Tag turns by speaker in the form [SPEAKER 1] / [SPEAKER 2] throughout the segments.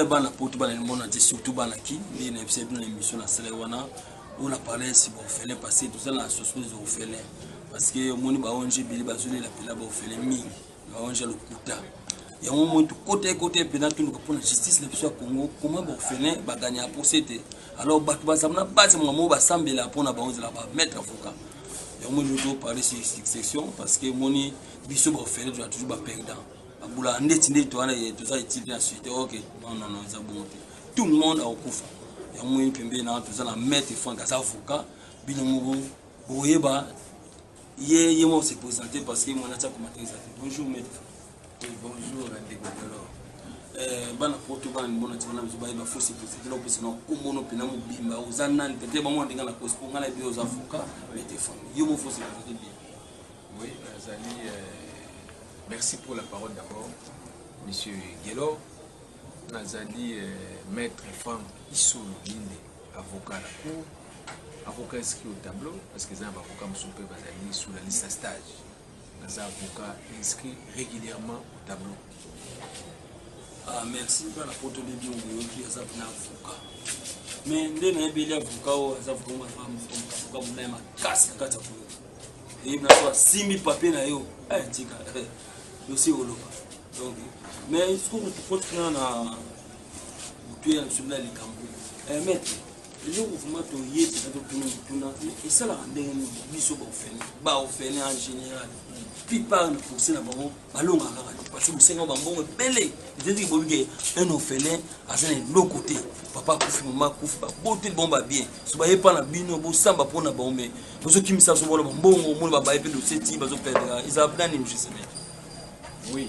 [SPEAKER 1] oyo bana poto bana limbo na te surtout bana ki nde na yebisa bino na émission na sala wana oyo na parle si baofele parce que toza na société des orphelins parce que omoni ba ong ebele bazolela mpela baofele mingi mawanza lokuta yango moi tokota ekota mpena toluka mpona justice na biso ya congo koma baorphelin baganya ya procès te alors bato bazala na base mwa moo basambela mpona bango ezala bamaître avocat yango moi lelo toparle sur succession parce que moni biso baorphelin tozala toujours baperdant babulaka ndeti ndeti towana toza etile na suite ok nonnono eza bongo te tout le monde akokufa yango moi mpembeni na toza na maître frank aza avocat bino moko boyeba ye ye moko se présenter parce que mwana tia commentaire eza te bonjour maître oui bonjour
[SPEAKER 2] ndeko Delor euh, bana poto
[SPEAKER 1] bana libona ti bana biso bayeba fo se présenter na opesa na kombo no mpena mobimba oza nani peut-être bango ndenge na kosi mpo ngai nayebi oza avocat mais te femme yo moko fo se présenter bien oui
[SPEAKER 2] nazali euh, merci pour la parole d'abord monsieur Gelor nazali euh, maître Franck Isolo Linde avocat na cour avocat inscrit au tableau parce que eza na baavocat mosusu mpe bazali sous la liste ya stage naza avocat inscrit régulièrement au tableau
[SPEAKER 1] ah, merci mpe na poto debi oyoki aza mpena avocat mais nde nayebeli avocat oyo aza avocat monai makasi na kati ya koyo eyebi naso asimbi papier na yo eh, tika eh, dossier oloba donc mais soki okotikana na toyela biso na likambo eh, maître eloko vraimen toyebi na totuna mituna esalaka ndenge nini biso baofene baofene en général plupart na pourse na bango balonga kaka te parce que bosenga bambongo ebele ezalaki bobi ke un ofele aza na eloko te papa akufi mama akufi babote bon babien so baye mpa na bino bosamba mpo na bango me bozokimisa sobola bambongo omoni babaye mpe doseti bazoperdaka ezala nani mjseme oui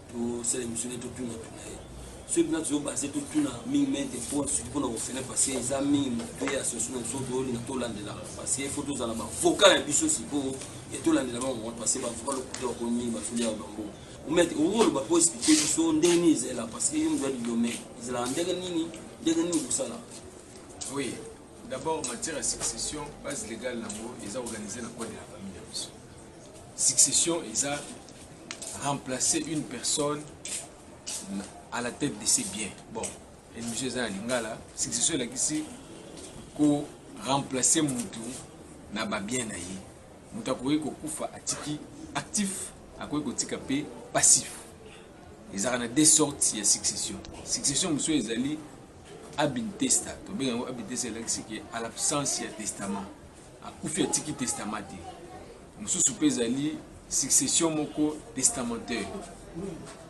[SPEAKER 1] tosala emission nde totunatuna ye soki mpena tozo base totuna mingi mente mpo soki mpona kofele parce eza mingi moto ye asoso na biso toyolinga tolandelaka parce il faut tozala bavoka ya biso sikoyo e tolandela bango moko parce bavoka lokuta bakomi mingi basoli ya bango omete okoloba mpo explike biso ndenge nini ezala parce que yo moto ya domaine ezalaka ndenge nini ndenge nini kosala oui
[SPEAKER 2] d'abord matière ya succession base légale yango eza organisé na code ya famille ya biso Succession eza remplacer une personne à la tête de ses biens. Bon, émission eza na lingala, succession elakisi ko remplacer mutu na ba bien na ye. Mutu akoki kokufa atiki actif, akoki kotika pe passif. Ezalaka na deux sortes ya succession. Succession mosusu ezali ab intesta, tobenga yango ab intesta elakisi ke à l'absence ya testament. Akufi atiki testament te. Mosusu pe ezali succession moko testamentaire.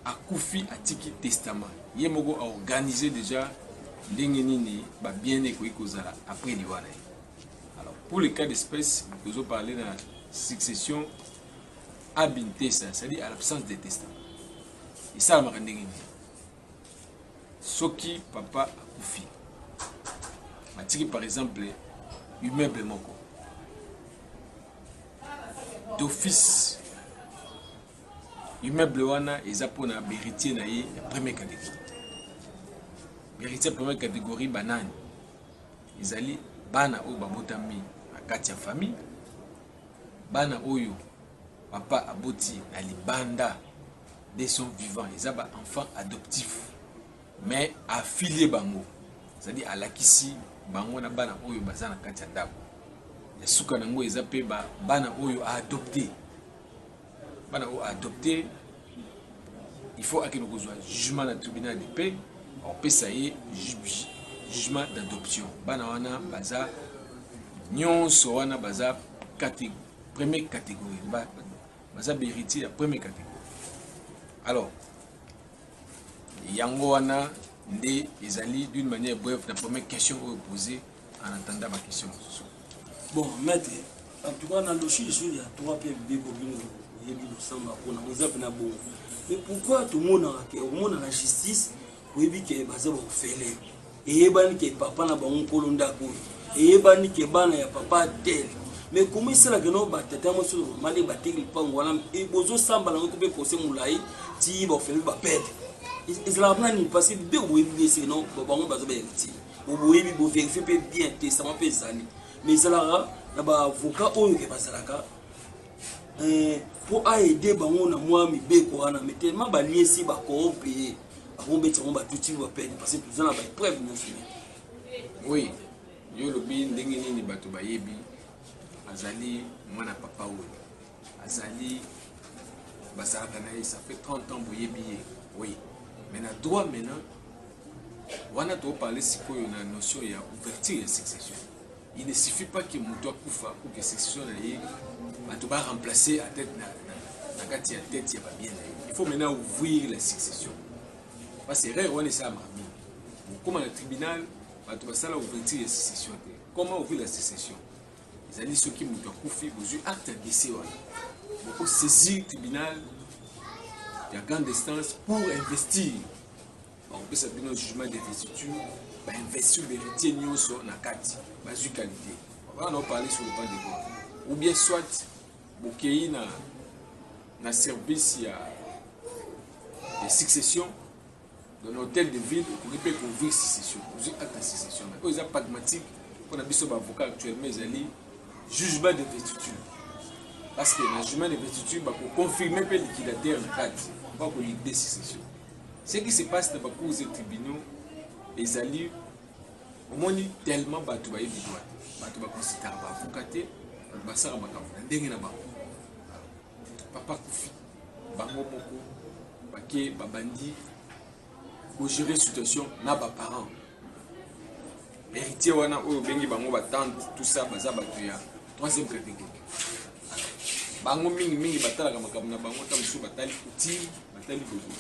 [SPEAKER 2] Akufi atiki testament. Ye moko a organiser dejà ndenge nini ba biens ekoki kozala après liwa na ye. Alors pour le cas d'espèce tozo parler na succession ab intesa, c'est-à-dire à l'absence de testament. Esalamaka ndenge nini? soki papa akufi atiki par exemple immeuble moko d'office immeuble wana eza mpona beritier na ye ya premier catégorie beritier ya premier catégorie banani ezali bana oyo babotami na kati ya famille bana oyo papa aboti na libanda de son vivant eza ba enfants adoptif mais affilie bango c'est-à-dire alakisi bango na bana oyo baza na kati ya ndako ya suka na yango eza mpe bana oyo aadopte bana oyo aadopte il faut akende kozwa jugement na tribunal de paix opesa ye jugement d'adoption bana wana baza nyonso wana baza premier catégorie Baza beritier ya premier categorie. Alors, yango wana nde ezali d'une manière brève na première question oyo posée en attendant ba question mosusu. Bon,
[SPEAKER 1] maître, en tout cas na loshi jour ya 3 pe bibeko bino yebi losamba pona oza pe na bongo. Mais pourquoi tomonaka ke omonaka justice Oyebi ke baza ba ofele. Eyebani ke papa na bango nkolo ndako oyo. Eyebani ke bana ya papa tel. Mais comment esala ke no ba tata mwasi na mama nde bateki lupangu wana et bozo samba na ngo pe pose mulayi ti ba ofele ba perdre. Ezalaka pona nini parce que bino boyebi bien se non bango baza ba heritier. Boyebi bo verifier pe bien testament pe ezali. Mais ezalaka na ba avocat oyo ke bazalaka eh, mpo aide bango na mwa mibeko wana mais tellement baliesi bacorompe ye akobetisa yango batuti bapene parce que toza na baepreuve nyonso oui
[SPEAKER 2] yo olobi ndenge nini bato bayebi azali mwana papa oyo azali basalaka na ye ça fait 30 ans boyebi ye oui mais na droit maintenant wana toparle sikoyo na notion ya ouverture ya succession Il ne suffit pas que moto akufa pour que succession na ye bato ba remplacer à tête na, na, na kati ya tête ya babien na ye. Il faut maintenant ouvrir la succession. Parce que erreur wana esalama mingi. Okoma na tribunal, bato basala ouverture ya succession te. Comment ouvrir la succession? Ezali soki moto akufi, bozwi acte ya décès wana. Boko saisir tribunal ya grande instance pour investir bakopesa bino jugement de vestiture ba investiture veritier nyonso na kati bazwi qualité wana nao parler sur le plan de bord ou bien soit bokei na na service ya ya succession dans l'hôtel de ville okoki mpe kouvrir succession ozwi acte ya succession na oyo eza pragmatique mpo na biso baavocat actuellement ezali jugement de vestiture parce que na jugement de vestiture bakoconfirme mpe liquidateur na kati bakolide succession Ce qui se passe na ba cours et tribunaux ezali omoni tellement bato bayebi droit te bato bakonsidaka baavoka te bato basala makambo na ndenge na bango papa kufi bango moko bake babandi kogere situation na baparent Heritier wana oyo bengi bango ba tante tout ça baza batu ya troisième catégorie. Bango mingi mingi batalaka makambo na bango ta mosusu batali coutume, batali bobo.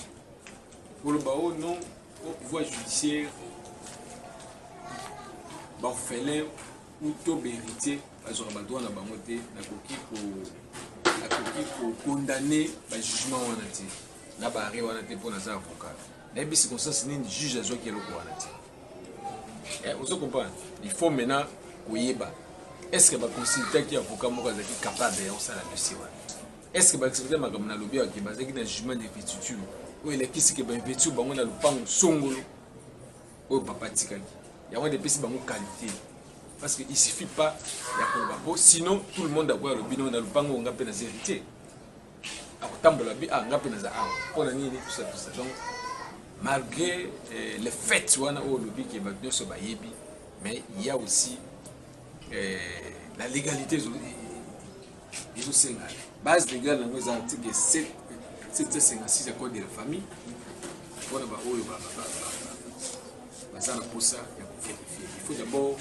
[SPEAKER 2] Koloba oh non, au pouvoir judiciaire, baorphelin ou to beritier bazwaka badroit na bango te nakoki ko nakoki kokondane bajugement wana te na baare wana te mpo naza avocat nayebi circonstance nini juge azwaki eloko wana te Eh, ozo comprendre il faut maintenant koyeba est ce que baconsultaki avocat moko azalaki capable ya kosala dossier wana est ce que baexplikaki makambo na lobi yake bazalaki na jugement de pétiture oyo elakisi ke bainvestir bango na lopango songolo oyo papa atikaki yango nde epesi bango qualité parce que il suffit pas ya koloba po sinon tout le monde akoya alobi no na lopango onga mpe naza héritier akotambola bi ah nga mpe naza awa mpo na nini tusa tusa donc malgré eh, le fait wana oyo olobi ke bato nyonso bayebi mais il y a aussi eh, la légalité ezosenga base légale yango eza article 7 756 ya code de la famille mpona baoyo baza na mposa ya koverifie il faut d'abord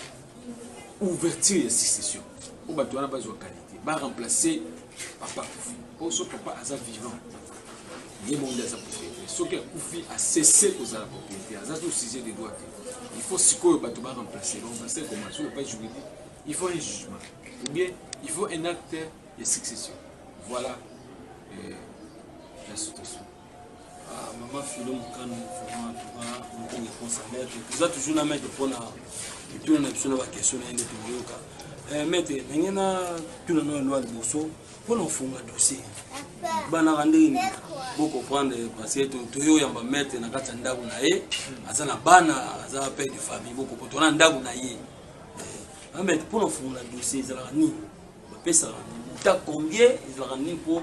[SPEAKER 2] ouverture ya succession mpo bato wana bazwa qualité baremplace papa akufi po so papa aza vivant ye moko nde aza propriété soki akufi asese kozala propriété aza to sujet de droit te il faut sikoyo bato ba remplace bango basel koma sur le pas juridique il faut un jugement ou bien il faut un acte de succession voilà euh, la situation
[SPEAKER 1] maman filo mokano vraiment toka mokongi akosa maître toza toujours na maître mpona mituna na biso na baquestion na ye nde tokoyoka eh, maître ndenge na tuna na elwa liboso mpona kofunga dossier banaka ndenge nini bocomprendre parce que toyoyamba maître na kati ya ndako na ye aza na bana aza père de famille bokopo tona ndako na ye eh, maître mpona kofungola dossier ezalaka nini bapesaka nini ta combien ezalaka nini mpo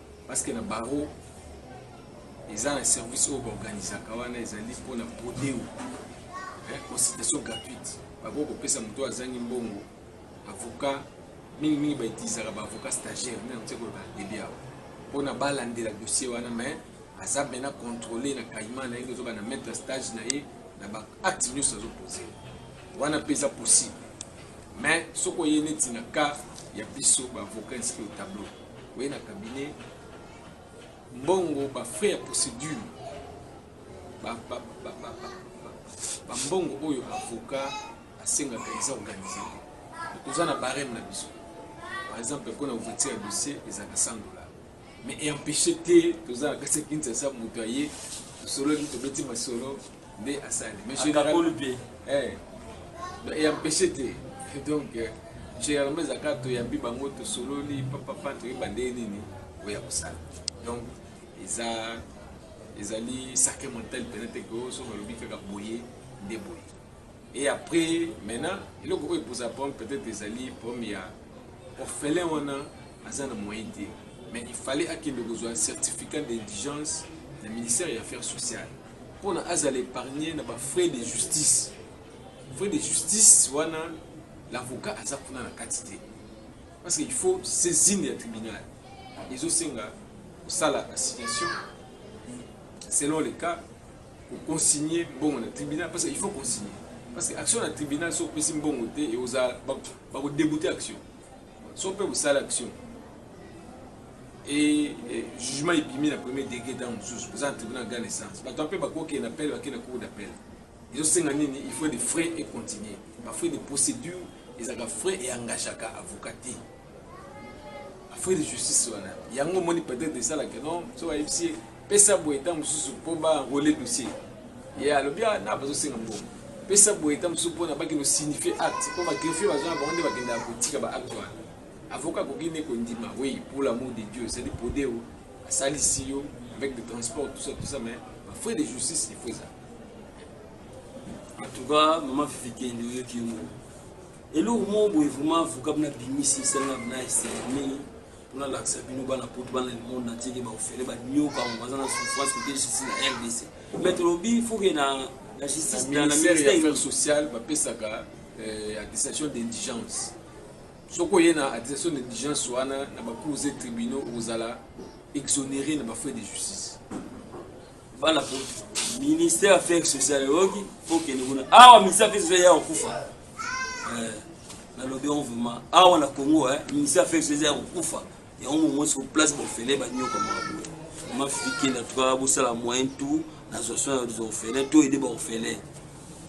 [SPEAKER 2] Parce que na barreau eza na service oyo baorganisaka wana ezali mpona prodeo eh, consultation gratuite bakoki kopesa moto azangi mbongo avocat mingimingi bautilisaka baavocat stagiaire nde nakoki koloba debi awa mpona balandela dossier wana mais aza mpena contrôle na caïman na ye nde ozoka na maître ya stage na ye na baacte nyonso azopose wana mpe eza possible mais soki oye neti na cas ya biso baavocat inscrit au tableau Oye na cabinet mbongo ba frais ya procédure ba ba ba ba ba mbongo oyo avocat asengaka eza organise toza na barème na biso par exemple mpona ouverture ya dossier ezalaka 100 dollars mais empêche te toza na kati ya kinshasa moto aye tosololi tobeti masolo nde asali mais akakoli mpe eh, eyampeche te donc euh, généralement ezalaka toyambi bango tosololi papapa toyeba ndenge nini oya kosala donc eza ezali sacré mental mpena te ke oso balobi kaka boye nde boye et après maintenant eloko oyo eposa problème peut-être ezali problème ya orphelin wana aza na moyen te mais il fallait akende kozwa certificat d'indigence na ministère ya affaires sociales pona azala epargne na ba frais de justice frais de justice wana l'avocat aza kuna na kati te parce que il faut saisine ya tribunal ezosenga kosala assignation selon le cas koconsigne mbongo na tribunal parce que il faut consigne parce que action na tribunal soki opesi mbongo te ekozala bakodebute action so mpe kosala action et jugement ebimi na premier degré ntango mosusu boza na tribunal grand essence bato mpe bakokee na pele bakee na cour d'appel ezosenga nini il faut des frais et continuer bafrais de procédure ezalaka frais e engageaka avocat te bafrais de justice wana yango omoni peut-être esalaka non so bayebisi Pesa boye ntango mosusu mpo ba enrole dossier. Ye alobi ah, na bazosenga mbongo. Pesa boye ntango mosusu mpo na bakende osignifie acte mpo bagrefie baza na bango nde bakendaka kotika ba acte wana. Avocat akoki nde kondima oui pour l'amour de Dieu c'est-à-dire podeo asalisi yo avec des transports tout ça tout ça mais ba frais de justice il faut ezala.
[SPEAKER 1] En tout cas, maman Fifi Kende oyoki yo moko. Eloko moko boye vraiment avocat na bimisi esalanga na esengo mingi. pona lakisa bino bana poto bana le monde entier ke ba ofele ba nyoka ngo baza na souffrance kote justice na RDC mais tolobi faut que na la justice na na ministère ya affaires sociales ba pesaka
[SPEAKER 2] euh, attestation d'indigence soko ye na attestation d'indigence wana na ba cours et tribunaux ozala exonéré na ba frais de justice
[SPEAKER 1] bana po ministère ya affaire sociale eyoki po kende kuna awa ministère ya affaire sociale ya kokufa eh, nalobi yango vraiment awa na congo eh, ministère ya affaire sociale ya kokufa yango momosi ko place bofele banyoka mwa boye mafike na tuka bosala moyen tout nazwa soin ya baorphelin to ede baorphelin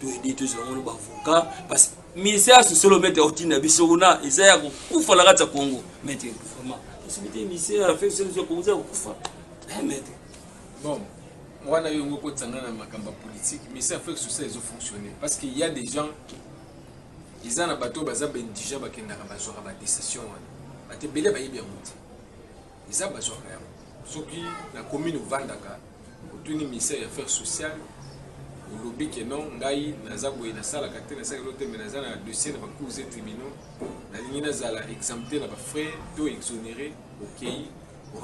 [SPEAKER 1] to ede tozwa yango na baavocat parce ministère ya sociale omete otinda biso kuna eza ya kokufa na kati ya congo mete vraiment société ministère ya affaire sociale ya kokufa mete
[SPEAKER 2] Bon, wana yo ngo kotisa nga na makambo ya politique mais ça fait social ezo fonctionner parce qu'il y a des gens eza na bato baza ba indigent bakendaka bazwaka ba décision wana bato ebele bayebi yango te eza bazwaka yango soki na commune ovandaka otuni ministère ya affaire sociale olobi ke non ngai naza boye nasalaka te nasalaka elo te me naza na dossier na bacours et tribunaux nalingi nazala exempté na bafrais to exonéré okei okay.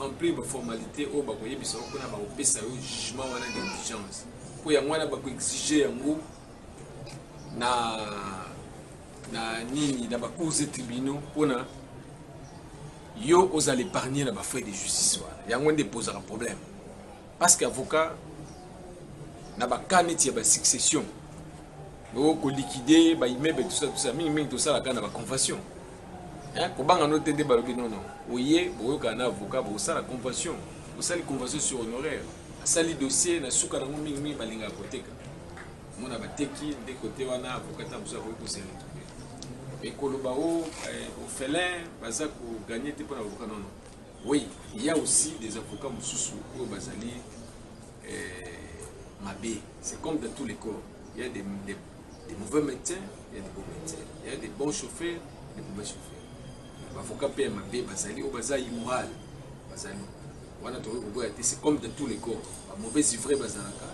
[SPEAKER 2] remplir ba formalités oyo bakoyebisa yo mpona bakopesa yo jugement wana d'indigence mpo yango wana bakoexige yango na na nini na bacours et tribunaux mpona yo ozala épargne na bafrais de justice wana yango nde epozaka problème parce que avocat na bakaa neti ya basuccession oyo koliquide baimmeuble tosa tosa mingimingi tosalaka na baconvention Hein, kobanga no te nde balobi non non. Oye boyokana na avocat bosala convention. Bosali convention sur honoraire. Asali dossier na suka nango mingi mingi balingaka koteka. Mona bateki nde kote wana avocat ta mosusu akoki kose retrouver. Mais koloba o oh, eh, ofelin baza ko gagner te pona avocat non non. Oui, il y a aussi des avocats mosusu oyo bazali eh, mabe. C'est comme dans tous les corps. Il y a des, des Des mauvais médecins, il y a des bons médecins. Il y a des bons chauffeurs, des mauvais chauffeurs. Bavoka mpe ya mabe bazali oyo baza immoral bazali wana tokoki koboya te c'est comme de tous les corps ba mauvais ivraies bazalaka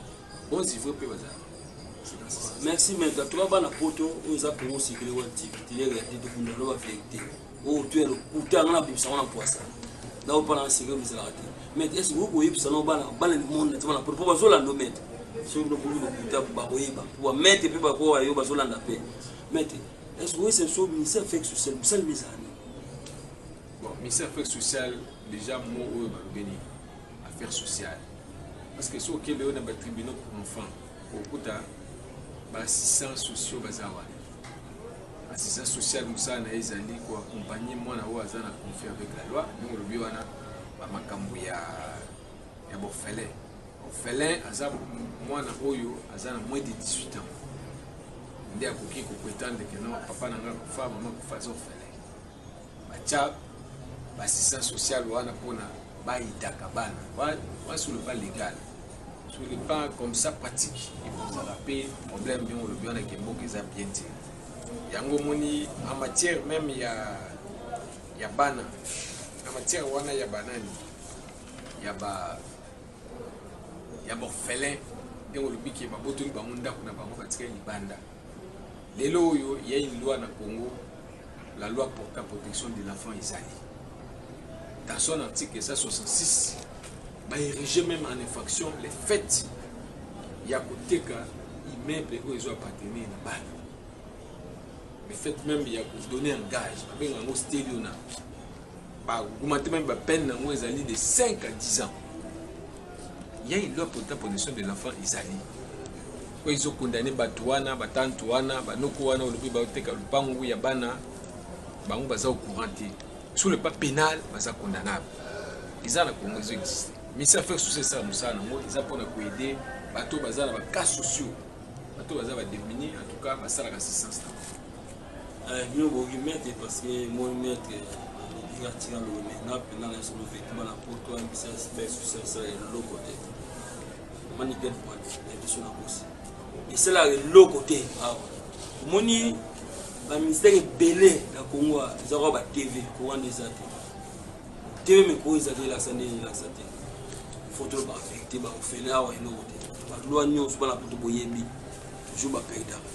[SPEAKER 2] bons ivraies mpe bazalaka
[SPEAKER 1] merci maître toya bana poto oyo eza kongo sikili wa tikitiliere ya te tokunda loba verité oyo to ya lokuta yango nabimisa yango na mpwasa naopana na seke bizalaka te mais esi okoki koyebisa no bana bana limonda te bana mpo bazolanda omete soki bino boki lokuta bakoyeba mpo bamete mpe bakoya yo bazolanda mpe mete esi oyesa biso ministère fake social bosali bizala nini
[SPEAKER 2] bon ministère fake social déjà mo oyo balobeli affaire sociale parce que soki okende oyo na batribunaux pour enfant okuta baassistants sociaux baza wana Assistant social mosala na ye ezali ko accompagner mwana oyo aza na conflit avec la loi ndenge olobi wana bamakambo ya, ya borfelin orphelin aza mwana oyo aza na moins de 18 ans nde akoki kopretendre ke non papa na ngai akufa mama akufa aza orphelin batya basisa social wana mpona bayidaka bana wana sur le plan légal sur le plan comme ça pratique ekozala mpe problème ndenge olobi wana ke mboka eza bien te yango omoni en matière même ya ya bana na matière wana ya banani ya ba ya borphelin ndenge olobi ke babotoli bango ndako na bango batikali libanda Lelo oyo il y a une loi na Congo, la loi portant protection de l'enfant ezali. Dans son article 166, ba érigé même en infraction le fait ya koteka immeuble oyo ezo appartenir na bana. Le fait même ya ko donner un gage, babenga yango stelio na ba augmenter même ba peine nango ezali de 5 à 10 ans. Il y a une loi portant protection de l'enfant ezali. Pourquoi ezo condamner batu wana, ba tante wana, ba noko wana olobi ba teka lupangu ya bana bango baza au courant te. Sur le pas pénal baza condamnable. Eza na Congo ezo exister. Mais ça fait souci ça musala na ngo eza pona ko aider bato baza na ba cas sociaux. Bato baza ba démunis en tout cas basala ka assistance na. Euh,
[SPEAKER 1] bino boki maître parce que moi maître olingi atika lolomena mpena na solo vekima na poto ayebisa espèce osalisala eloko te omoni belle pointe ya biso na kosi esalaka eloko te awa omoni bamistère ebele na congo eza kwa batv kowana eza te tv mikolo eza te elakisa nde elakisa te foto loba verité baofele awa eloko te balwa nyonso bana poto boyebi toujours baperdaka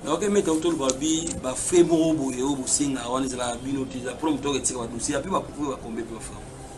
[SPEAKER 1] nayoki meta otoloba bi bafrai moko boye oyo bosenga wana ezalaka bino te eza mpona moto oketika badosie ape bapupu bakombe mpe bafrai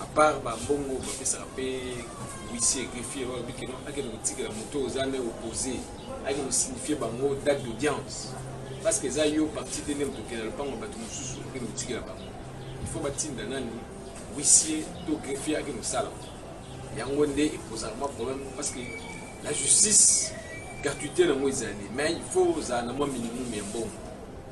[SPEAKER 2] à part ba mbongo ba pesaka pe huissier greffier oyo bikino akende kotikela moto oyo oza nde opposé ayeke kosignifie bango date d'audience parce que eza yo parti te nde moto okenda lopango ya bato mosusu okende kotikela bango il faut batinda nani huissier to greffier akende kosala yango nde ekozala mwa problème parce que la justice gratuité nango ezali mais il faut ozala na mwa minimum ya mbongo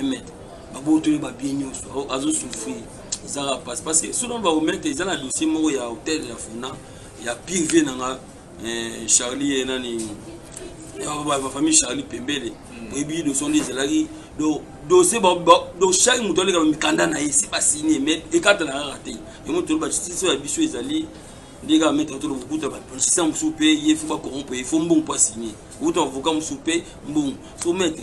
[SPEAKER 1] amen babotoli babie nyonso azosouffrir eza kaka mpasi parce que soki bakomete eza na dossier moko ya hotel ya fona ya pire vie na nga eh, charlie ye eh, nani bafamille eh, charlie pembele hmm. oyebi dossier nde ezelaki dossier do chaque moto aleka mikanda na ye si basigne mais ekatana kaka te yango toloba justice ya biso ezali ndenge kaka maître tolo kokuta bapolitisien mosusu mpe ye fo bakorompe ye fo mbongo mpo asigne okuta avocat mosusu mpe mbongo so maître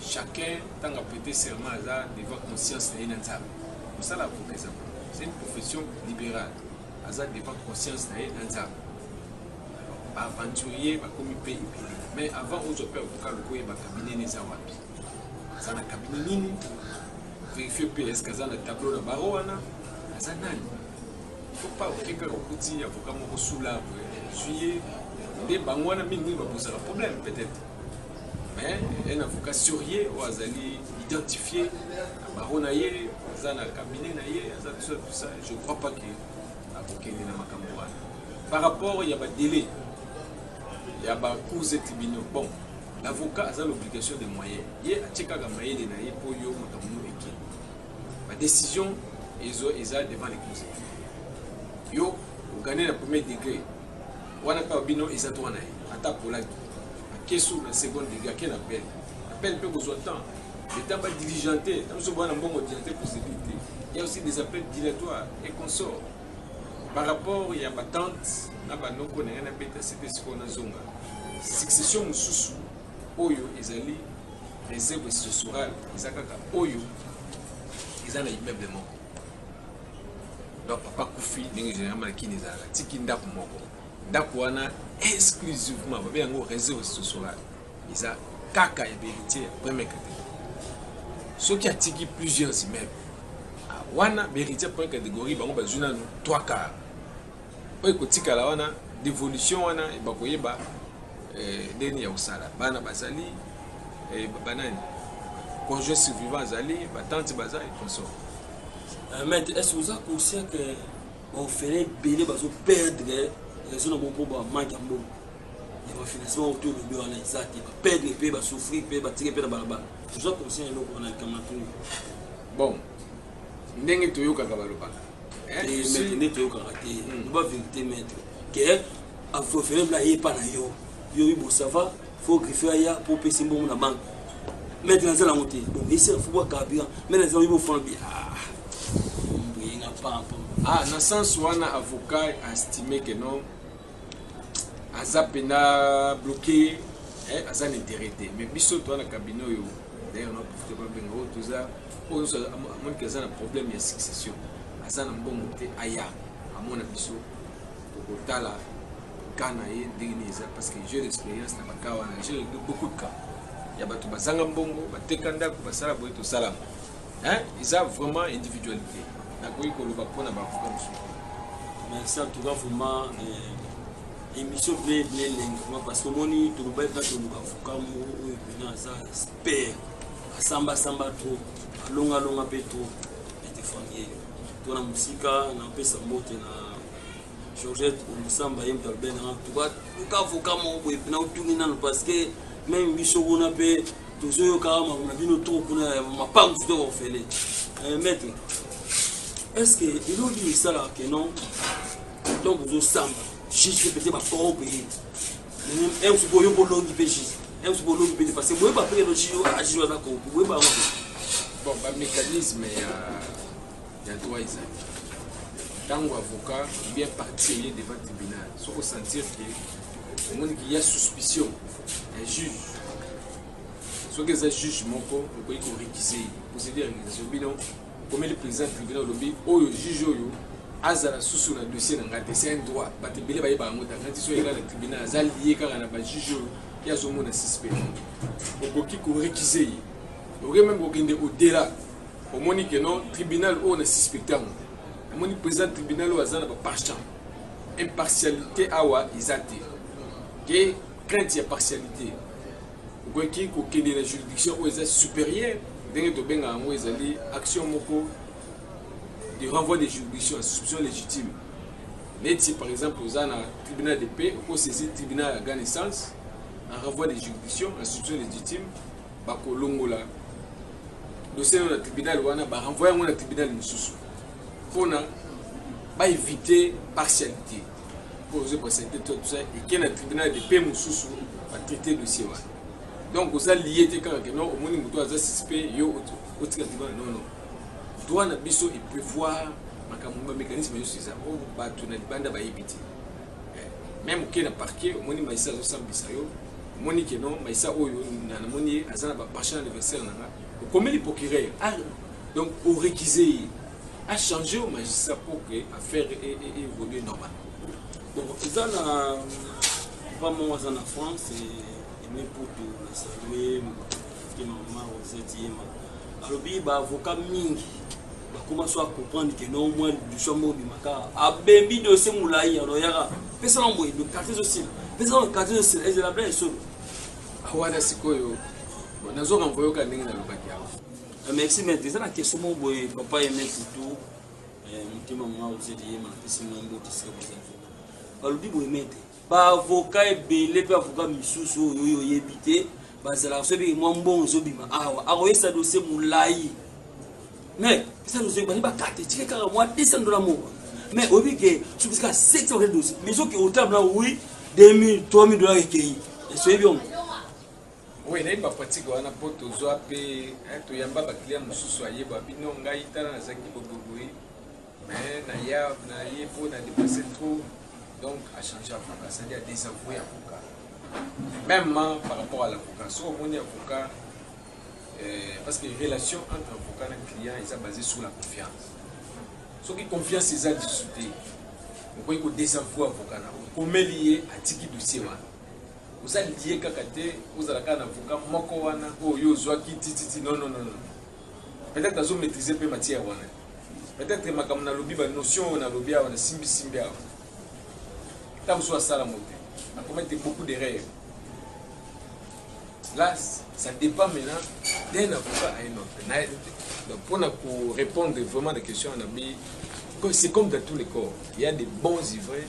[SPEAKER 2] Chacun tant a prêté serment aza devant conscience na ye na Nzambe. Mosala avocat eza c'est une profession libérale. Aza devant conscience na ye na Nzambe. Ba aventuriers bakomi pe ebele. Mais avant ozwa pe avocat lokoye ba cabinet neza wapi. Aza na cabinet nini? Vérifier pe est-ce que aza na tableau na baro wana? Aza nani? Il faut pas okipe okuti avocat moko sous l'arbre. Juillet nde bango wana mingi babosaka problème peut-être. mais un avocat sérieux oyo azali identifié baro na ye aza na cabinet na ye aza tout ça tout ça je crois pas que akokende na makambo wana par rapport ya badélai ya bacours et tribunaux bon l'avocat aza l'obligation de moyen ye atie kaka mayele na ye mpo yo makambo no eke badécision ezo eza devant les conseil yo ogane na premier degré Wana pe bino eza droit na ye ata polaki akesu na seconde degré ake na pele na pele pe kozwa temps leta ba diligente na biso bwana mbongo diligente procédure te il y a aussi des appels dilatoires et consorts par rapport ya batante na banoko na ngai nabeta sete sikoyo nazonga succession mosusu oyo ezali réserve sociale eza kaka oyo eza na immeuble moko donc papa kufi ndenge généralement na kini ezalaka tiki ndako moko ndako wana exclusivement babe yango réseau sosolal eza kaka ya beritier ya premier catégorie soki atiki plusieurs immeuble ah, wana beritier premier catégorie bango bazwi nanu 3 quart oyo ekotikala wana devolution wana bakoyeba eh, ndeni ya kosala bana bazali eh, banani conjoint survivant azali batante bazali consort euh,
[SPEAKER 1] maître est ce oza conscient que baofele ebele bazoperdre raison na bango mpo bamanke ya mbongo ya bafinancement oyo tolobi wana eza te baperdre mpe basouffrir mpe batike mpe na balabala oza conscient eloko wana likambo na tuni bon
[SPEAKER 2] ndenge toyokaka balobaka
[SPEAKER 1] nde toyokaka te loba verité maître ke afrofere bla ye epa na yo yo oyi bosava fo griffe aya mpo opesi mbongo na banke maître naza nango te bon esera fo bwa carburant mai naza oyi bofona bi mbuyenga pampa
[SPEAKER 2] ah na sens wana avocat estime que non aza mpena bloqué aza na intérêt te mais biso toa na cabinet oyo d'ailleurs na profite babenga oyo toza oyo nyonso amoni ke aza na problème ya succession aza na mbongo te aya amona biso tokotala cas na ye ndenge nini eza parce que jeu d'expérience na bakaa wana jeu de beaucoup de cas ya bato bazanga mbongo bateka ndako basala boye tosalama eza vraiment individualité nakoki koloba mpo na baavoka mosusu merci
[SPEAKER 1] en tout cas vraiment eh, émission ble ble elengi vraiment parce que omoni tolobaki kaka toluka avoka moko oyo pena aza Père asamba samba trop, alonga longa pe trop. Etefangie. Tona musika na pesa mbote na Georgette Omusamba ye moto alobeli nanga tuka luka avoka moko boye mpena otuni nano parce que meme biso kuna mpe tozoyoka makambo na bino trop kuna ya mapangu to ofele eh, maître est ce que elongi esalaka ke non donc ozosamba juste peut-être bakoro peye Ems boyo bolongi pe jus. Ems bolongi pe parce que boye ba pe no jus a jus na ko boye ba ngo. Bon ba
[SPEAKER 2] mécanisme ya ya droit ezali. Tango avocat bien parti ye devant tribunal. Soko sentir que omoni qu'il y a suspicion ya juge. Soki eza juge moko okoki ko récuser. Procédure ya récusation bino okomeli president ya tribunal olobi oyo juge oyo azala susu na dossier na ngai te c'est un droit bato ebele bayeba yango te ngai ti so yeka na tribunal aza lie kaka na bajuge oyo ye azomona suspect okoki korekise ye okoki meme kokende odela omoni ke non tribunal oyo na suspecte yango omoni président tribunal oyo aza na bapartian impartialité awa eza te ke crainte ya partialité Okoki kokende na juridiction oyo eza superieur, ndenge tobengaka yango ezali action moko de renvoi de juridiction, soupçon légitime. Neti par exemple oza na tribunal de paix, oko saisir tribunal ya grande instance en renvoi de juridiction, en soupçon légitime, bakolongola dossier na tribunal wana, ba renvoyer yango na tribunal mosusu. Pona ba éviter partialité. po ozo presente toi tout ça eke na tribunal de paix mosusu ba traite dossier wana donc oza lie te kaka ke non omoni moto aza suspect yo otika tribunal non non droit na biso e prévoir makambo ba mécanisme nyonso eza oyo oh, bato na libanda bayebi te eh, meme oke na parquet omoni maisa azosambisa yo omoni ke non maisa oyo namoni ye aza na bapension anniversaire na nga okomeli procureur ah, donc orekise ye a changer au magistrat pour que affaire évolue normalement. Bon, eza
[SPEAKER 1] na papa moko aza na France eme putu na salue ye mama rosette yema alobi baavocat mingi bakoma so acomprendre ke no mwa lidusu yango obimaka abembi dosie molai aloyaka pesa na boye karte ezosila pesa na karte ezosila ezela bla esolo awana
[SPEAKER 2] sikoyo nazo renvoyoka ndenge nalobaki yango Ah, merci maître eza
[SPEAKER 1] na question moko boye papa aime tutu eh, motema mwa ozeli ye mapesi mwa mbote esika bozali balobi boye maître baavoka ebele mpe avoka misusu oyo oyo oyebi te bazalaka so ebeke mwa mbongo ezobima awa akoyesa dosie molai mais esa dosie ebandi bakate etike kaka mwa 200 dola moko mais oyebi ke soki kaka 700 bakate dosie mais soki otala mna wi 2000 3000 dola ekei esoyebi yango
[SPEAKER 2] Oui, nayebi ba pratique wana po tozwa pe eh, toyamba ba client mosusu ayeba bino ngai tala nazalaki boboboye mais na ya na ye po na dépasse trop donc a changer avocat c'est-à-dire a désavouer avocat même hein, par rapport à l'avocat soki omoni avocat euh, parce que relation entre avocat na client eza basé sur la confiance soki confiance eza lisusu te okoki kodésavouer avocat na okomeli ye atiki dossier wana Oza liye kaka te ozala kaka na avocat moko wana oyo yo ozwaki tititi non non non non. Peut-être azo maîtriser pe matière wana. Peut-être makambo nalobi ba notion oyo nalobi awa na simbi simbi awa. Tant que soit sala mote. Na commettre beaucoup d'erreurs. Là, ça dépend maintenant d'un avocat à un autre. Na- Donc, pour na- pour répondre vraiment à la question, on a mis- c'est comme dans tous les corps. Il y a des bons ivraies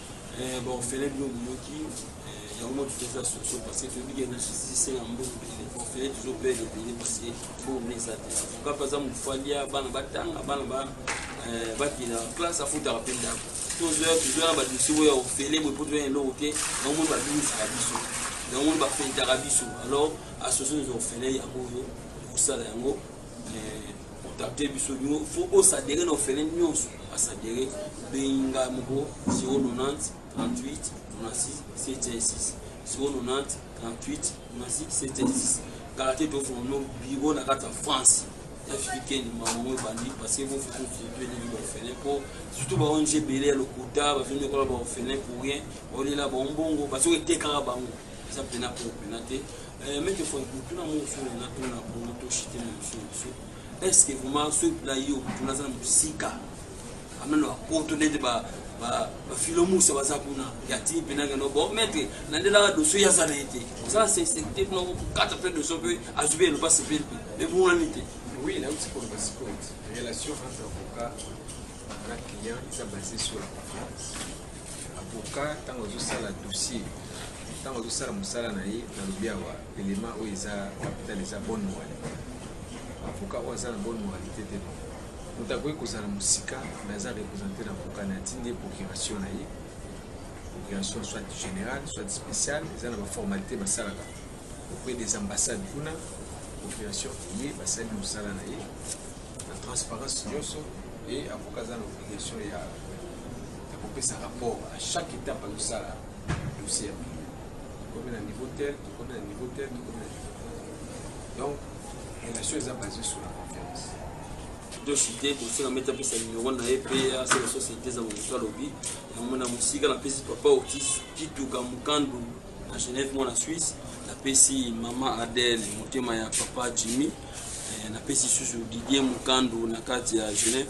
[SPEAKER 1] Eh, ba orphelin bino boyoki eh, yango mwa tutu eza soso parce que toyebi ke na justice na mbongo ebele ba orphelin tozo pele ebele parce que mbongo mpe eza te avocat mpe aza mofalia bana batanga bana ba eh, bakenda classe afutaka mpe ndako tozoya tozoya na badosie oyo ya orphelin boye mpo toya eloko te yango moni babimisaka biso yango moni bafentaka biso alors association des orphelin yango oyo kosala yango contacte biso bino fo osadere na ofele nyonso asadere obengi ngai moko 090 38 96 716 090 38 96 716 kala te tofona no biro na kati ya france africaine mamango ebandi parce que bofututueleli baofele mpo surtout ba ong ebele ya lokuta bazongi ekola baofele pour rien baolela bango bongo basoki etekaka bango eza mpena po mpena te Eh, meke fo mutuna musu na tuna bongo to shite na musu musu est-ce que vraiment ce na yo mutuna za musika ameno akoto nende ba ba ba filo musa baza kuna ya ti pena ngeno bon meke na ndela la dossier ya za na ete ça c'est c'est type na ko kata pe dossier pe azube no pas se faire mais bon la nite oui là aussi pour
[SPEAKER 2] parce que relation entre avocat na client ça basé sur la confiance avocat ntango azosala dossier ntango azosala mosala na ye nalobi awa elema oyo eza capital eza bonne moralité avocat oyo aza na bonne moralité te moto akoki kozala mosika mais aza représente na avocat na atindi ye procuration na ye procuration soit générale soit spéciale eza na baformalité basalaka auprès des ambassades kuna procuration eye basali mosala na ye na transparence nyonso e avocat aza na obligation ya ya kopesa rapport à chaque étape azosala dossier ya bilan tokomi na niveau tel tokomi na niveau tel tokomi na niveau tel donc relation eza basée sur la
[SPEAKER 1] confiance de cité kosenga mete apesa numero na ye mpe asala société eza momoto alobi yango na mosika napesi papa otis kituka mokandu na genève mwana suisse napesi mama adele motema ya papa jimmy eh, napesi susu didier mokandu na kati ya genève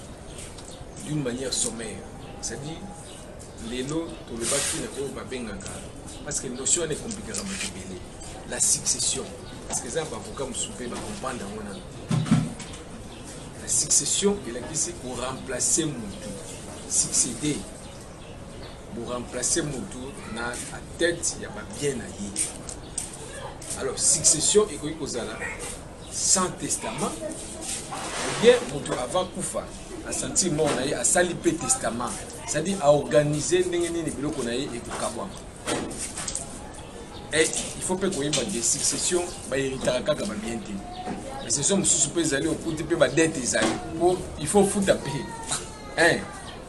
[SPEAKER 2] d'une manière sommaire c'est-à-dire lelo tolobaki na oyo babengaka parce que notion wana ekomplikaka moto ebele la succession parce que eza baavocat mosusu mpe bakomprendre yango nano la succession elakisi koremplace motu succéder boremplace motu na a tête ya babien na ye alors succession ekoki kozala sans testament bien moto avant kufa asentir mort na ye asali mpe testament c'est-à-dire aorganize ndenge nini biloko na ye ekokabwama et il faut mpe koyeba de succession baheritaka kaka babien te basession mosusu mpe ezali okuti mpe badete ezali mpo il faut ofuta mpe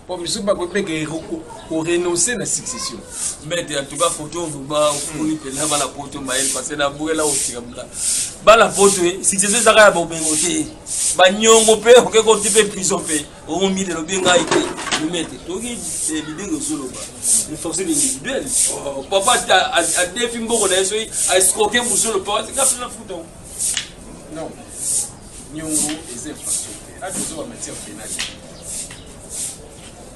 [SPEAKER 2] po misusu bakoki mpe ke ko renoncer na succession mete en tout cas
[SPEAKER 1] photo vraiment ofungoli mpenza bana poto mayele parce que na boyela otika mla bana poto eh, succession ezaka ya bomengo te banyongo mpe oke koti mpe prison mpe omombi lelo be ngai te mete toki eh, bidenge ozoloba force individuel oh, papa adefi mboko na ye soki aescroke mosolo papa tika mpe na futa non
[SPEAKER 2] Niongo eza infrastructure. Ato eza ba matière pénale.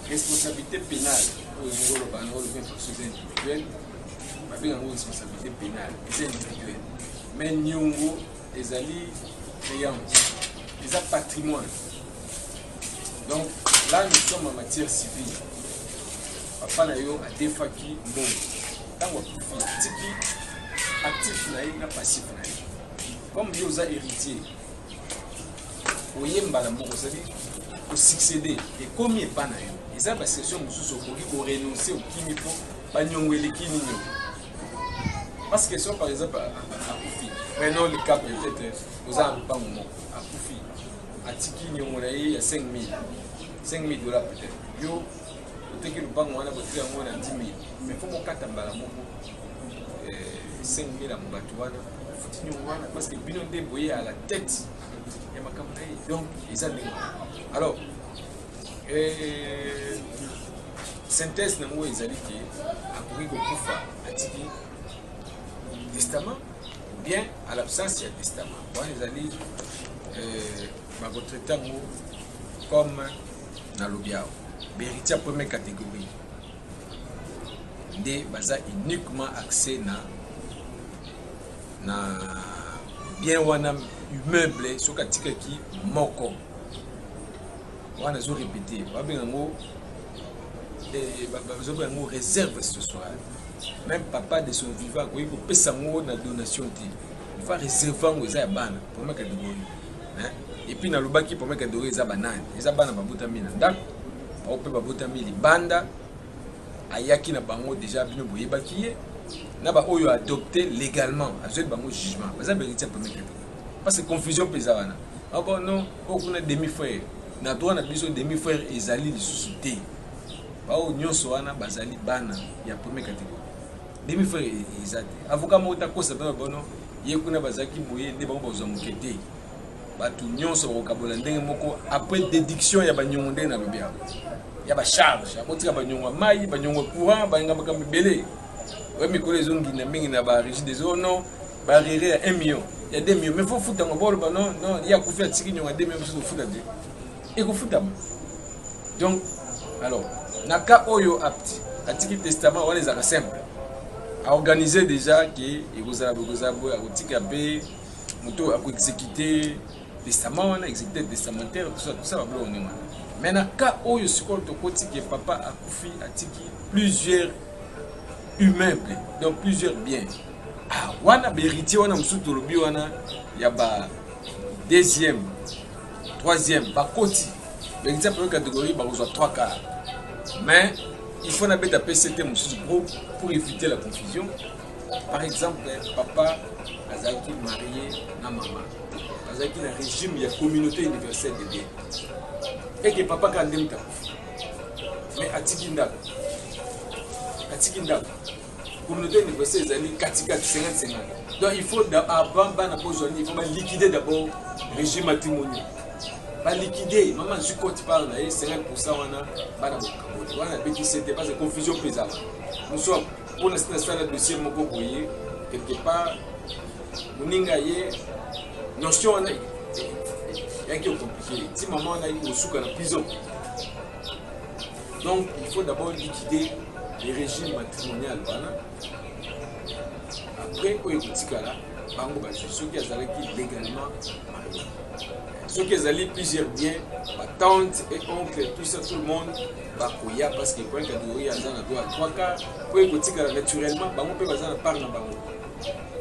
[SPEAKER 2] Responsabilité pénale oyo niongo oloba yango olobi infrastructure individuelle babenga yango responsabilité pénale eza individuelle mais niongo ezali créance eza patrimoine donc là nous sommes en matière civile papa na yo adefaki mbongo ntango akufi atiki actif na ye na passif na ye comme yo oza héritier oye mbala moko ozali kosuccéde ekomi epa na yo eza basession mosusu okoki korenonce okimi mpo banyongo eleki nini parce que so par exemple akufi prenons le cas peut-être oza na lopango moko akufi atiki nyongo na ye ya 5000 5000 dollars peut-être yo Oteki lupango wana botia yango na 10 000 mais faut bokata mbala moko 5 eh, 000 ya mobatu wana ofuti nyongo wana parce que bino nde boye à la tête ya makambo na ye donc eza ndenge alors eh, synthèse na yango ezali ke akoki kokufa atiki testament ou bien à l'absence ya testament wana ezali eh, bakotraite yango comme nalobi awa beriti ya première catégorie nde baza uniquement accès na na bien wana immeuble soki atikaki moko wana ezo répété babenga yango eh, bazobenga yango réserve ce soir même papa de son vivant akoki kopesa yango na donation te ifa réserve yango eza ya bana première catégorie et puis nalobaki papa kadori eza banani eza bana babotami na ndako bango mpe babotami libanda ayaki na bango deja bino boyebaki ye na baoyo adopte légalement azweli bango jugement baza beritier papa kadori parce que confusion mpe eza wana abo ah non oyo kuna demi frère na droit na biso demi frère ezali lisusu te baoyo nyonso wana bazali bana ya premier catégorie demi frère eza te avocat moko te akosa bino bono ye kuna bazalaki boye nde bango bazwa moke te bato nyonso bakokabola ndenge moko après déduction ya banyongo ndenge nalobi yango ya bacharge akotika banyongo ya mai banyongo ya courant balinga makambo ebele oyo mikolo ezongina mingi na barigide ezo non barire ya 1 million ya 2 million mais fo futa yango boloba non non ye akufi atiki nyongo ya 2 million mosusu ofuta te ekofutama donc alors na cas oyo apti atiki testament wana ezalaka simple aorganize déjà ke ekozala boye ekozala boye akotika mpe moto akoexécute testament wana exécute testamentaire tout ça tout ça babiloko ndenge wana mais na cas oyo sikoyo tokoti ke papa akufi atiki plusieurs immeuble donc plusieurs biens ah, wana baheritier wana mosusu tolobi wana ya ba deuxième troisième bakoti beliti ya première catégorie bakozwa 3 car mais il faut nabeta pct mosusu pro pour éviter la confusion par exemple papa azalaki marie na mama azalaki na régime ya communauté universelle de bien eke papa kaka nde moto akufi mais atiki ndako atiki ndako communauté universelle ezali katikati 50-50 donc il faut avant bana kozwa nini il faut baliquide d'abord régime matrimonial baliquide mama azwi cote part na ye 50 pourcent wana bana bokaboli wana abetise te parce confusion mpe ezala mosu mpona sina sala dossier moko boye quelque part moninga ye notion wana yaki okomplike ti mama wana yaki kosuka na prison Donc il faut d'abord liquider le régime matrimonial wana après oyo ekotikala bango bazwi soki azalaki légalement marie soki ezali plusieurs biens batante et oncle tout ça tout le monde bakoya parce que point catégorie aza na droit trois quart mpo ekotikala naturellement bango mpe baza na part na bango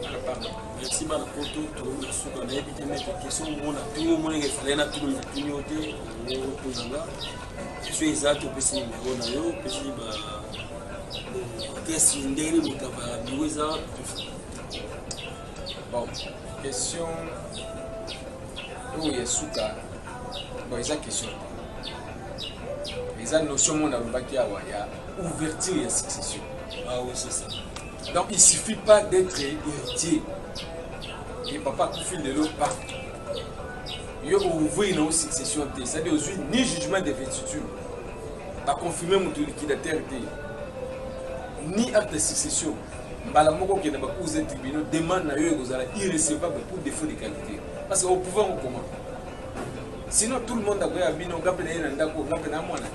[SPEAKER 2] na part na
[SPEAKER 1] bango merci bana poto tolobi na suka nayebi te meke question omona tuni omonenge efale na tuni na tuni yo te otuna nga soki eza te opesi nimero na yo opesi adresse ndenge nini moto avaya biro eza
[SPEAKER 2] bon question oyo ya suka bon eza question te eza notion moko nalobaki awa ya ouverture ya succession ah oui c'est ça
[SPEAKER 1] donc il suffit
[SPEAKER 2] pas d'être héritier ye papa akufi lelo pa yo ouvrir na succession te c'est-à-dire ozwi ni jugement de vetitude baconfirme moto liquidateur te ni acte de succession mbala moko okende bakuza tribunal demande na yo ekozala irrecevable pour défaut de qualité parce que opouvoir kokoma sinon tout le monde akoya bino nga mpe na ye na ndako nga mpe na mwana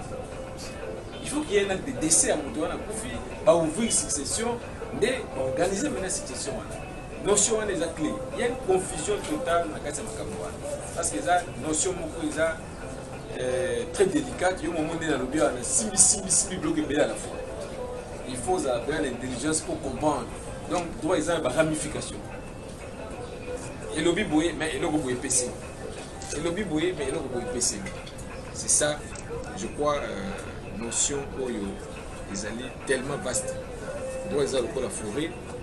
[SPEAKER 2] il faut qu'il y ait un acte de décès ya moto wana akufi baouvrir succession nde baorganize mena succession wana Notion wana eza clé. Il y a une confusion totale na kati ya makambo wana. Parce que eza notion moko eza euh, très délicate. Yo momo nde nalobi wana simbi simbi simbi bloc ebele à la fois. Il faut ozala mpenza na intelligence pour comprendre. Donc droit eza na ba ramification. Elobi boye mais eloko boye epesi. Elobi boye mais eloko boye epesi. C'est ça, je crois, euh, notion oyo ezali tellement vaste. Droit eza lokola forêt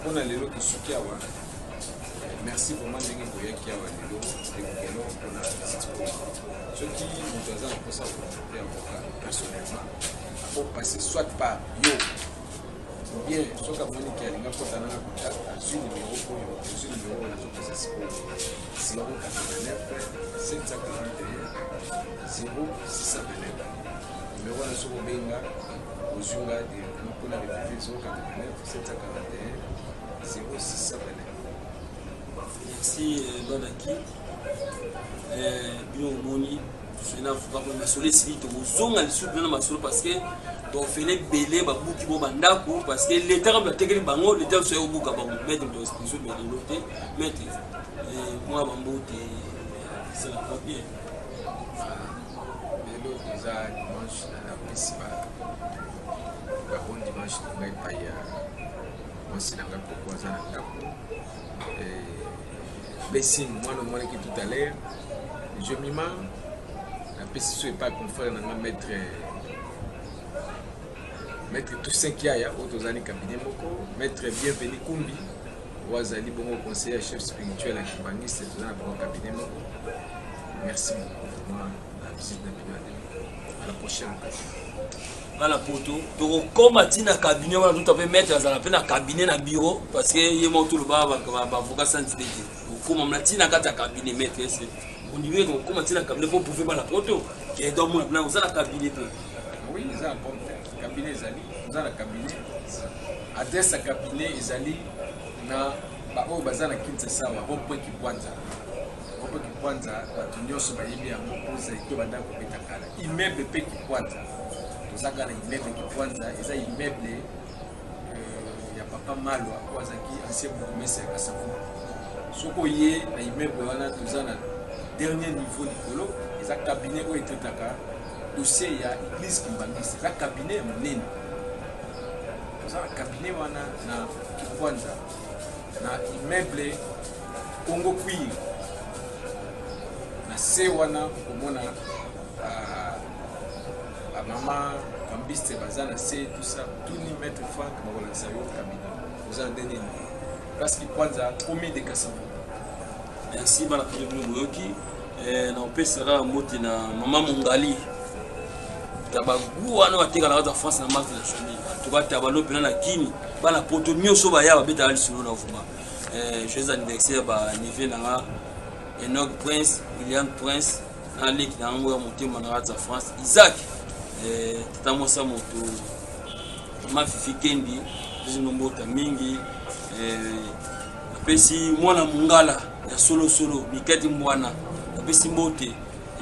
[SPEAKER 2] mpona lelo tosuki awa merci vraiment ndenge boyaki awa lelo ekokelo mpona soki moto aza na mposa komonte avocat personnellement akopasse soit par yo bien soki amoni ke alinga kotana na contact azwi numero oyo ozwi numero oyo nazopesa sikoyo 089 741 0629 numero wana soki obenga ozwi nga directement mpona revive 089
[SPEAKER 1] merci bana ki bino omoni na avocat masolo esili tokozonga lisusu bino na masolo parce que baofele ebele babuki bo bandako parce que leta kaka batekeli bango leta biso ekobuka bango maître tozo belelo te maître mwa bambote c'est la première
[SPEAKER 2] Lelo toza dimanche na napesi ba ba bon dimanche na ngai epai ya mwasi na ngai koko aza na ndako blessing mwana omonaki tout à l'heure je mima napesi so epai confrère na ngai maître maître toussaint kiaya oyo tozali cabinet moko maître bienvenu kumbi oyo azali bongo conseiller ya chef spirituel ya kimbanguiste toza na bango cabinet moko Merci vraiment la visite na bino à la prochaine occasion. nga
[SPEAKER 1] na poto tokokoma ti na cabinet wana tuta mpe maître azala mpe na cabinet na bureau parce que ye moko toloba bavocat santi te te tokokoma mna ti na kati ya cabinet maître ese ondimie tokokoma ti na cabinet mpo prouve bana poto ke donc mona mpena oza na cabinet mpe oui eza na
[SPEAKER 2] compte cabinet ezali oza na cabinet adresse ya cabinet ezali na baoyo baza na kinsa sawa rond point kibwanza Moko Kipwanza bato nyonso bayebi yango mpo Zaïto banda kobeta kala. Immeuble mpe Kipwanza. Toza kaka na immeuble Kipwanza, eza immeuble euh, ya papa Malwa oyo azalaki ancien bourgmestre ya Kasavubu. Soki oye na immeuble wana toza na dernier niveau likolo, eza cabinet oyo etetaka dossier ya église Kimbangiste. Eza cabinet ya monene. Toza na cabinet wana na Kipwanza. na immeuble Congo Queen na se wana okomona bamama kambiste baza na se tusa tuni maître frank bakolakisa yo kabina oza na ndenge nini place kikwanza komi de kasama merci
[SPEAKER 1] bana toli bino boyoki Eh, na opesi na kaka mbote na mama mongali ya bagu wana batekala kaka france na marque nationale atuka tabalo mpena na kini bana poto nyonso baya babetaka lisolo na vuma eh, joyeux anniversaire banive na nga enoc prince william prince na leki na yango ya motema na kati ya france isaac eh, tata mwasi ya moto mafifi kendi bizinombo ta mingi Napesi mwana mungala ya solo solo Miketi Mbwana. Napesi mbote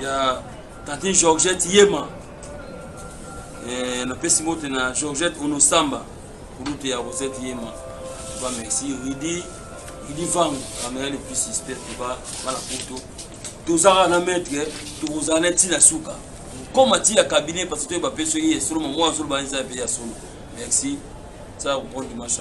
[SPEAKER 1] ya tantine Georgette Yema. Eh, napesi mbote na Georgette Onosamba kulute ya Rosette Yema. Ba merci Rudy Rudy Vangu amela le plus suspect ba bana poto. Tozara na maître tozana na tina suka. Koma tia cabinet parce que toyeba pe soki ye solo mwa solo ba nza pe ya solo. Merci. Ça comprendre dimanche.